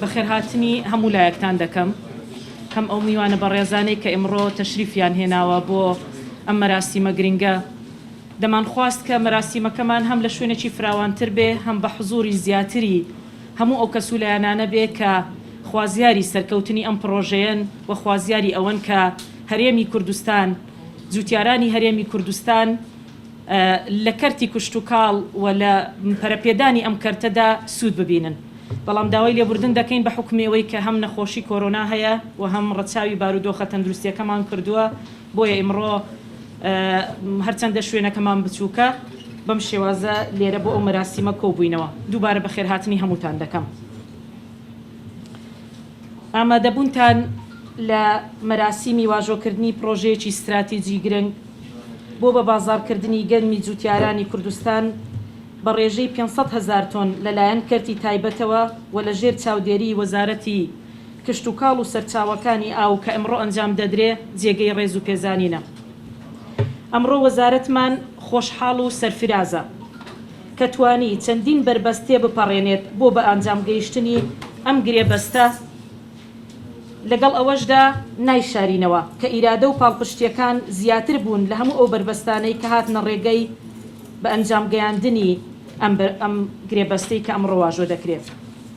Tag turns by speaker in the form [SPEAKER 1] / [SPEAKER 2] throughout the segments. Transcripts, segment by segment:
[SPEAKER 1] بەخێرهاتنی هەموو لایەکتان دەکەم هەم ئەو میوانە بەڕێزانەی کە ئمڕۆ تەشریفیان هێناوە بۆ ئەم مەراسیمە گرنگە دەمانخواست کە مەراسیمەکەمان هەم لە شوێنێکی فراوانتر بێ هەم بە حزووری زیاتری هەموو ئەو کەس و لایەنانە بێ کە خوازیاری سەرکەوتنی ئەم پڕۆژەیەن و خوازیاری ئەوەن کە هەرێمی کوردستان جووتیارانی هەرێمی کوردستان لە کەرتی کشتوکاڵ و لە پەرەپێدانی ئەم کەرتەدا سوود ببینن بەڵام داوای لێبوردن دەکەین بە حوکمی ئەوەی کە هەم نەخۆشی کۆرۆنا هەیە و هەم ڕەچاوی بارودۆخە تەندروستییەکەمان کردووە بۆیە ئیمڕۆ هەرچەندە شوێنەکەمان بچووکە، بەم شێوازە لێرە بۆ ئەو مەراسیمە کۆبووینەوە. دووبارە بەخێرهاتنی هەمووتان دەکەم. ئامادەبوونتان لە مەراسیمی واژۆکردنی پڕۆژەیەکی ستراتیجی گرنگ بۆ بە بازاڕکردنی گەنمی جووتیارانی کوردستان بە ڕێژەی پێنج سەد هەزار تۆن لەلایەن کەرتی تایبەتەوە و لەژێر چاودێریی وەزارەتی کشتوکاڵ و سەرچاوەکانی ئاو کە ئەمڕۆ ئەنجام دەدرێ جێگەی ڕێز و پێزانینە. ئەمڕۆ وەزارەتمان خۆشحاڵ و سەرفرازە کە توانی چەندین بەربەست تێبپەڕێنێت بۆ بەئانجام گەیشتنی ئەم گرێبەستە، لەگەڵ ئەوەشدا نایشارینەوە کە ئیرادە و پاڵپشتییەکان زیاتر بوون لە هەموو ئەو بەربەستانەی کە هاتنە ڕێگەی بەئەنجام گەیاندنی ئەم گرێبەستەی کە ئەمڕۆ واژۆ دەکرێ.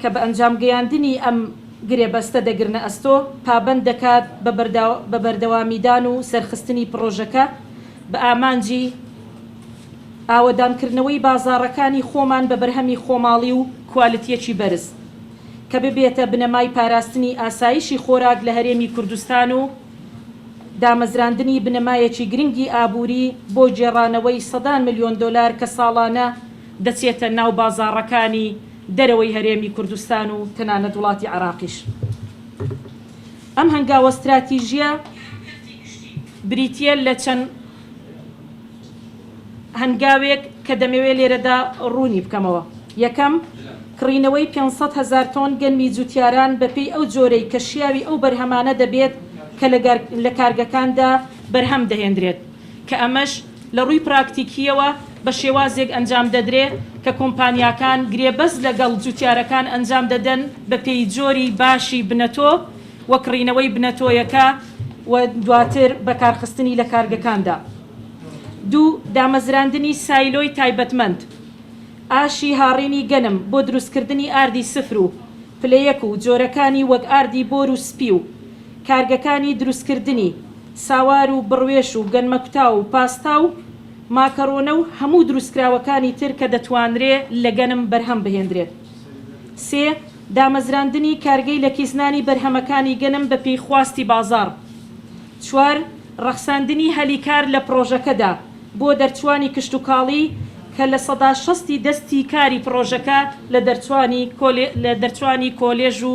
[SPEAKER 1] کە بە ئەنجام گەیاندنی ئەم گرێبەستە دەگرنە ئەستۆ، پابەند دەکات بە بەردەوامیدان و سەرخستنی پڕۆژەکە بە ئامانجی ئاوەدانکردنەوەی بازاڕەکانی خۆمان بە بەرهەمی خۆماڵی و کوالیتییەکی بەرز، کە ببێتە بنەمای پاراستنی ئاسایشی خۆراک لە هەرێمی کوردستان و دامەزراندنی بنەمایەکی گرنگی ئابووری بۆ گێڕانەوەی سەدان ملیۆن دۆلار کە ساڵانە دەچێتە ناو بازاڕەکانی دەرەوەی هەرێمی کوردستان و تەنانەت وڵاتی عێراقیش. ئەم هەنگاوە ستراتیژییە بریتییە لە چەند هەنگاوێک کە دەمەوێت لێرەدا ڕوونی بکەمەوە. یەکەم، کڕینەوەی پێنج سەد هەزار تۆن گەنمی جووتیاران بەپێی ئەو جۆرەی کە شیاوی ئەو بەرهەمانە دەبێت کە لە کارگەکاندا بەرهەم دەهێندرێت. کە ئەمەش لە ڕووی پراکتیکییەوە بە شێوازێک ئەنجام دەدرێ کە کۆمپانیاکان گرێبەست لەگەڵ جووتیارەکان ئەنجام دەدەن بە پێی جۆری باشی بنەتۆ و کڕینەوەی بنەتۆیەکە و دواتر بەکارخستنی لە کارگەکاندا. دوو، دامەزراندنی سایلۆی تایبەتمەند ئاشی هاڕینی گەنم بۆ دروستکردنی ئاردی سفر و پلە یەک و جۆرەکانی وەک ئاردی بۆر و سپی و. کارگەکانی دروستکردنی ساوار و بڕوێش و گەنمەکوتاو و پاستا و ماکەڕۆنە و هەموو دروستکراوەکانی تر کە دەتوانرێ لە گەنم بەرهەم بهێندرێت. سێ، دامەزراندنی کارگەی لەکیسنانی بەرهەمەکانی گەنم بە پێی خواستی بازاڕ. چوار، ڕەخساندنی هەلی کار لە پڕۆژەکەدا بۆ دەرچوانی کشتوکاڵی کە لە سەدا شەستی دەستی کاری پڕۆژەکە لە دەرچوانی کۆلێژ و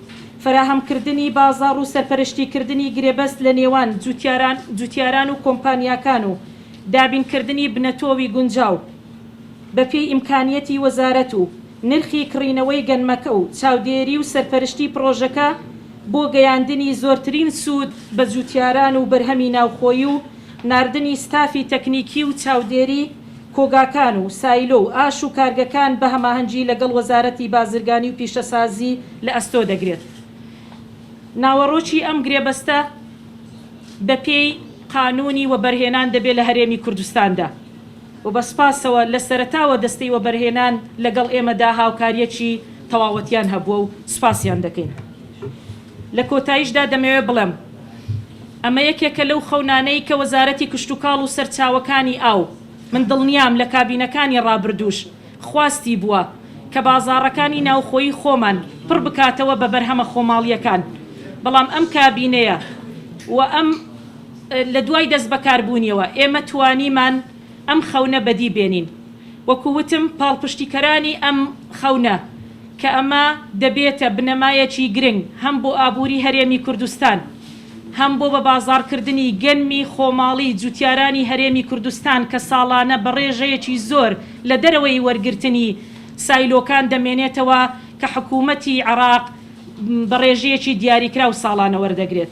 [SPEAKER 1] فەراهەمکردنی بازاڕ و سەرپەرشتیکردنی گرێبەست لە نێوان جووتیاران و کۆمپانیاکان و دابینکردنی بنەتۆوی گونجاو بە پێی ئیمکانیەتی وەزارەت و نرخی کڕینەوەی گەنمەکە و چاودێری و سەرپەرشتی پڕۆژەکە بۆ گەیاندنی زۆرترین سوود بە جووتیاران و بەرهەمی ناوخۆیی و ناردنی ستافی تەکنیکی و چاودێری کۆگاکان و سایلۆ و ئاش و کارگەکان بە هەماهەنگی لەگەڵ وەزارەتی بازرگانی و پیشەسازی لە ئەستۆ دەگرێت. ناوەڕۆکی ئەم گرێبەستە بە پێی قانوونی وەبەرهێنان دەبێت لە هەرێمی کوردستاندا و بە سپاسەوە لە سەرەتاوە دەستەی وەبەرهێنان لەگەڵ ئێمەدا هاوکارییەکی تەواوەتیان هەبووە و سپاسیان دەکەین. لە کۆتاییشدا دەمەوێت بڵێم ئەمە یەکێکە لەو خەونانەی کە وەزارەتی کشتوکاڵ و سەرچاوەکانی ئاو، من دڵنیام لە کابینەکانی ڕابردووش خواستی بووە، کە بازاڕەکانی ناوخۆیی خۆمان پڕ بکاتەوە بە بەرهەمە خۆماڵییەکان، بەڵام ئەم کابینەیە و ئەم لە دوای دەستبەکاربوونیەوە ئێمە توانیمان. ئەم خەونە بەدی بێنین. وەکو وتم پاڵپشتیکەرانی ئەم خەونە کە ئەمە دەبێتە بنەمایەکی گرنگ هەم بۆ ئابوری هەرێمی کوردستان هەم بۆ بە بازاڕکردنی گەنمی خۆماڵی جوتیارانی هەرێمی کوردستان کە ساڵانە بە ڕێژەیەکی زۆر لە دەرەوەی وەرگرتنی سایلۆکان دەمێنێتەوە کە حکومەتی عێراق بە ڕێژەیەکی دیاریکراو ساڵانە وەردەگرێت.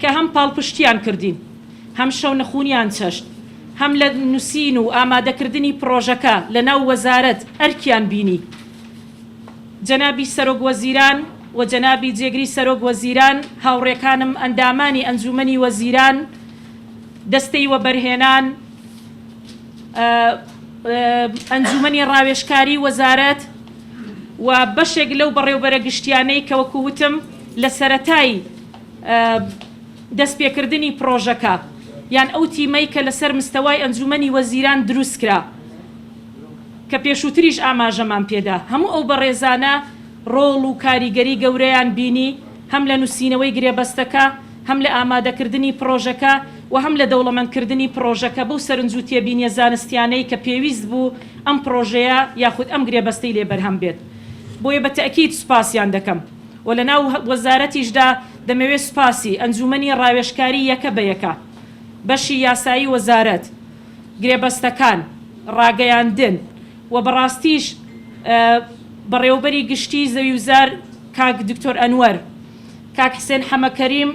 [SPEAKER 1] کە هەم پاڵپشتییان کردین، هەم شەونخوونیان چەشت، هەم لە نووسین و ئامادەکردنی پڕۆژەکە لەناو وەزارەت ئەرکیان بینی. جەنابی سەرۆکوەزیران و جەنابی جێگری سەرۆکوەزیران، هاوڕێکانم ئەندامانی ئەنجوومەنی وەزیران، دەستەی وەبەرهێنان، ئەنجوومەنی ڕاوێژکاری وەزارەت و بەشێک لەو بەڕێوبەرە گشتییانەی کە وەکوو وتم لە سەرەتای دەستپێکردنی پڕۆژەکە یان ئەو تیمەی کە لەسەر مستەوای ئەنجوومەنی وەزیران دروستکرا کە پێشووتریش ئاماژەمان پێدا هەموو ئەو بەڕێزانە ڕۆڵ و کاریگەری گەورەیان بینی هەم لە نووسینەوەی گرێبەستەکە هەم لە ئامادەکردنی پڕۆژەکە و هەم لە دەوڵەمەندکردنی پڕۆژەکە بەو سەرنج و تێبینیە زانستیانەی کە پێویست بوو ئەم پڕۆژەیە یاخود ئەم گرێبەستەی لێ بەرهەم بێت بۆیە بە تەئکید سوپاسیان دەکەم. و لە ناو وەزارەتیشدا دەمەوێت سوپاسی ئەنجوومەنی ڕاوێژکاری یەکە بە یەکە، بەشی یاسایی وەزارەت، گرێبەستەکان، ڕاگەیاندن و بەڕاستیش بەڕێوەبەری گشتیی زەویوزار کاک دکتۆر ئەنوەر، کاک حسێن حەمەکەریم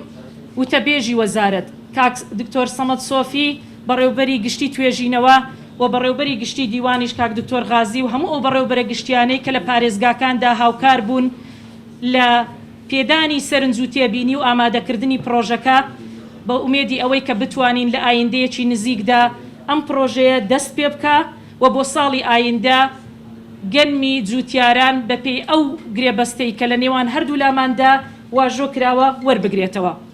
[SPEAKER 1] وتەبێژی وەزارەت، کاک دکتۆر سەمەد سۆفی، بەڕێوبەری گشتی توێژینەوە و بەڕێوبەری گشتی دیوانیش کاک دکتۆر غازی و هەموو ئەو بەڕێوبەرە گشتیانەی کە لە پارێزگاکاندا هاوکار بوون لە پێدانی سەرنج و تێبینی و ئامادەکردنی پڕۆژەکە بە ئومێدی ئەوەی کە بتوانین لە ئایندەیەکی نزیکدا ئەم پڕۆژەیە دەست پێ بکا و بۆ ساڵی ئایندە گەنمی جووتیاران بە پێی ئەو گرێبەستەی کە لە نێوان هەردوولاماندا واژۆ کراوە وەربگرێتەوە.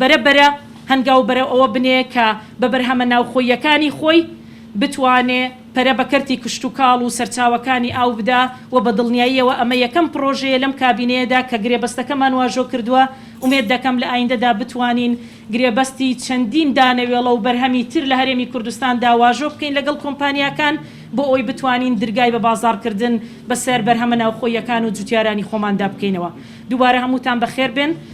[SPEAKER 1] بەرە بەرە هەنگاو بەرەو ئەوە بنێ کە بە بەرهەمە ناوخۆییەکانی خۆی بتوانێ پەرە بە کەرتی کشتوکاڵ و سەرچاوەکانی ئاو بدا و بە دڵنیاییەوە ئەمە یەکەم پڕۆژەیە لەم کابینەیەدا کە گرێبەستەکەمان واژۆ کردووە، ئومێد دەکەم لە ئایندەدا بتوانین گرێبەستی چەندین دانەوێڵە و بەرهەمی تر لە هەرێمی کوردستاندا واژۆ بکەین لەگەڵ کۆمپانیاکان بۆ ئەوەی بتوانین درگای بە بازاڕکردن بەسەر بەرهەمە ناوخۆییەکان و جوتیارانی خۆماندا بکەینەوە. دووبارە هەمووتان بەخێر بێن.